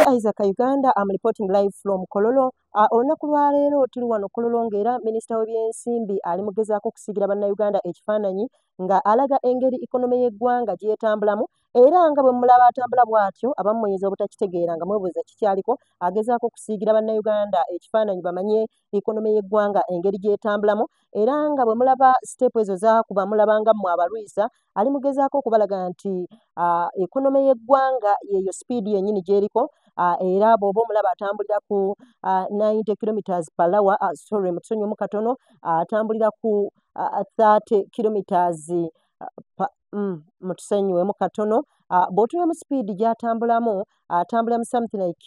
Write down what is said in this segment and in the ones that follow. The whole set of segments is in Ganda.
Isaac Uganda, I'm reporting live from Kololo. Uh, olunaku lwa leero tuli wano Kololo ng'era minisita w'ebyensimbi ali mu gezaako okusigira bannayuganda ekifaananyi nga alaga engeri ekonome y'eggwanga gyetambulamu era nga bwe mulaba atambula bw'atyo abamu muyinza obutakitegeera nga mwebuuza kikyaliko agezaako okusiigira bannayuganda ekifaananyi bamanye ekonome y'eggwanga engeri gy'etambulamu era nga bwe mulaba siteepu ezo zaakuba mulaba nga mmwe abalwisa ali mugezaako okubalaga nti ekonome y'eggwanga yeeyo sipiidi yennyini gy'eriko era bw'oba omulaba atambulira ku 90 kilometres per lawa sorry mutusonyiwemu katono atambulira ku 30 kilometres mm, mutusonyiwemu katono bw'otunemu sipiidi gy'atambulamu atambula mu something like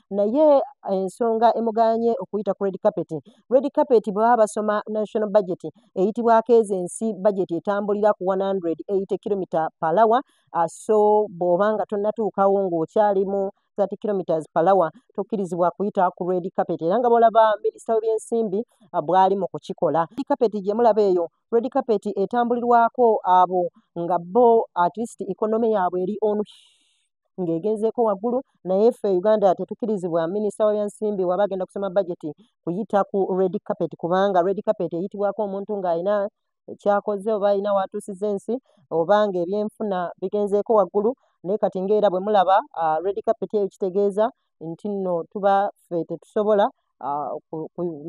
naye ensonga emuganye okuyita ku red carpet red carpet bwe baba basoma national budget eyitibwako ezo ensi budget etambulira ku 180 kilomita palawa ah, so bw'oba nga tonnatuukawo ng'okyali mu 30 kilometers per hour tokkirizibwa kuyita ku red carpet era nga bwolaba minisita w'ebyensimbi ah, bwali mu kukikola red carpet gye mulaba eyo red carpet etambulirwako abo nga bo at least economy yaabwe eri onu ng'egenzeeko waggulu naye ffe e uganda tetukirizibwa minisita wa byansimbi waba agenda kusoma bajeti kuyita ku red carpet kubanga red carpet eyitibwako omuntu ng'alina kyakoze oba alina waatuusiza ensi oba ng'ebyenfuna bigenzeeko waggulu naye kati ngaera bwe mulaba uh, red carpet eyo kitegeeza nti nno tuba ffe tetusobola uh,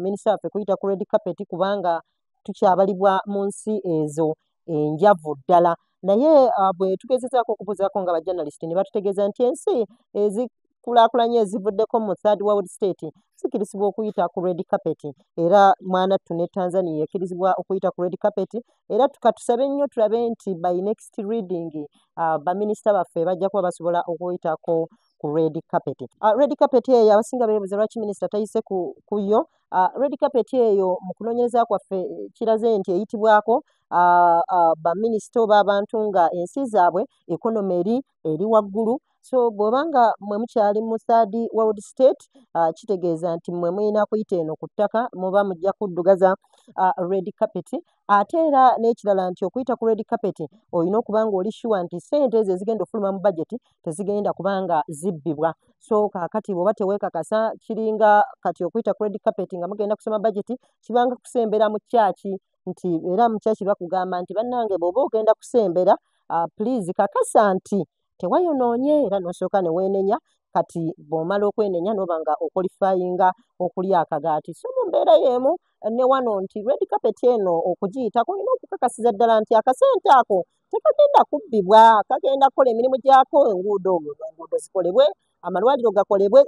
minisita waffe kuyita ku red carpet kubanga tukyabalibwa mu nsi ezo enjavu ddala naye uh, bwe tugezezaako okubuuzaako nga bajournalist ne batutegeeza nti ensi ezikulaakulanye ezivuddeko mu third world state zikirizibwa okuyita ku red carpet era mwana ttu ne tanzania ekirizibwa okuyita ku red carpet era tukatusabe nnyo tulabe nti by next reading uh, baminisita baffe bajja kuba basobola okuyitako ku red carpet uh, red carpet eyo abasinga beebuza lwaki minisita tayise ku, ku yo Uh, red carpet eyo mu kunoonyereza kwaffe eh, kiraze nti eyitibwako uh, uh, baminisita oba abantu nga ensi zaabwe ekonoma eri eri waggulu so bw'oba nga mwe mukyali mu third world state uh, kitegeeza nti mwe mulina kuyita eno ku ttaka muba mujja kuddugaza uh, red carpet ate era n'ekirala nti okuyita ku red carpet olina okuba nga oli shuwa nti sente ezo ezigenda okufuluma mu bajeti tezigenda kubanga zibbibwa so kakati bwoba tewekakasa kiringa kati okuyita credit carpet nga mugenda kusoma budget kibanga kusembera mu kyaki nti era mu kyaki bakugamba nti bannange bwoba ogenda kusembera uh, please kakasa nti tewayonoonye era nosooka neweenenya kati bwomala okwenenya noba nga okolifayinga okuli akagaati so mu mbeera yeemu ne wano nti red carpet eno okugiyitako olina okukakasiza ddala nti akasente ako tekagenda kubbibwa kagenda kukola emirimu gyako enguudo enguudo zikolebwe amalwaliro gakolebwe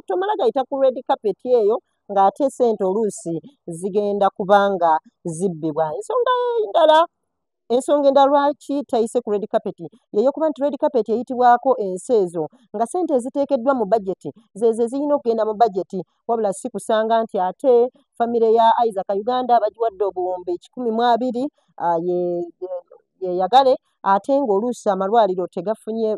tomala gayita ku red carpet eyo ng'ate sente oluusi zigenda kubanga zibbibwa ensonga endala ensonga endala lwaki tayise ku red carpet yeyokuba nti red carpet eyitibwako ensi ezo nga sente eziteekeddwa mu bajeti zezo ezirina okugenda mu bajeti wabula si kusanga nti ate famire ya Isaac Uganda bagiwadde obuwumbi kikumi mu abiri ah, yeyagale ate ng'oluusi amalwaliro tegafunye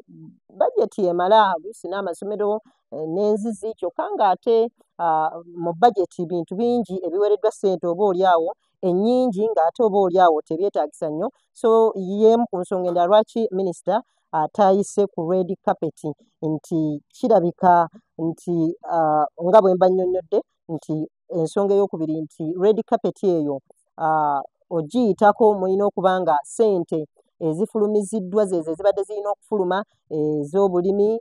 bajeti emala oluusi n'amasomero eh, n'enzizi kyokka ng'ate ah, mu bajeti bintu bingi ebiwereddwa ssente oba oli awo ennyingi ng'ate oba oli awo tebyetaagisa nnyo so y'emu ku nsonga endala lwaki minisita ataayise ku red carpet nti kirabika nti uh, nga bwe mba nnyonnyodde nti ensonga eyokubiri nti red carpet eyo uh, ogiyitako mulina okuba nga ssente ezifulumiziddwa zezo ezibadde zirina okufuluma ez'obulimi eh,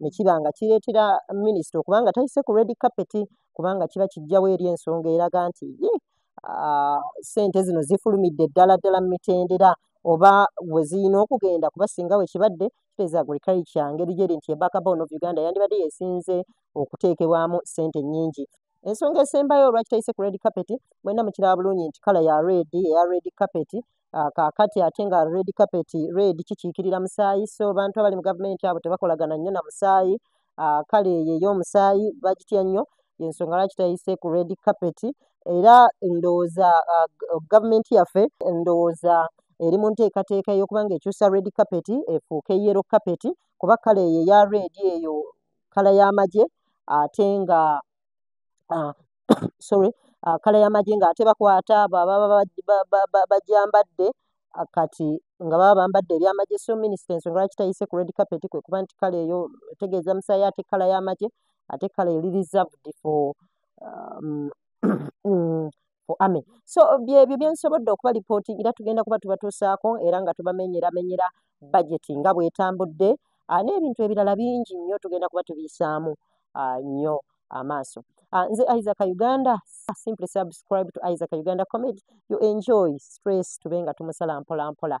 ne kiba nga kireetera minisita okuba nga tayise ku red carpet kubanga kiba kijjawo eri ensonga eraga nti ssente zino zifulumidde ddala ddala mu mitendera oba we zirina okugenda kuba singa we kibadde kiteeza agrikali kya ngeri gyeri nti ebakabono of uganda yandibadde yesinze okuteekebwamu ssente nnyingi ensonga esembayo olwaki tayise ku red carpet mwena mukiraba bulungi nti kala ya red eya red carpet ah, kakati ate nga red carpet red kikiikirira musaayi so bantu abali mu gavumenti abo tebakolagana nnyo na musaayi ah, kale eyo ey'omusaayi bagitya nnyo yensonga lwaki tayise ku red carpet era ndowooza ah, gavumenti yaffe ndowooza eri mu nteekateeka ey'okuba nga ekyusa red carpet efuuke yero carpet kuba kale eyo eya red eyo kala y'amagye ate nga ah, sorry ah, kala y'amagi ng'ate bakwata abo ababa bagyambadde ah, kati nga baba bambadde ebyamagye so minisita ensonga lwaki tayise ku red carpet kwe kuba nti kala eyo etegeeza musaayi ate kala y'amagye ate kala eri reserved for um, for army so byebyo byensobodde okuba lipooti era tugenda kuba tubatuusaako era nga tubamenyeramenyera bajeti nga bwetambudde ah, n'ebintu ebirala bingi nnyo tugenda kuba tubiyisaamu ah, nnyo amaaso ah, nze isaac uganda simply subscribe to isaac uganda comedy you enjoy stress tube nga tumusala mpolampola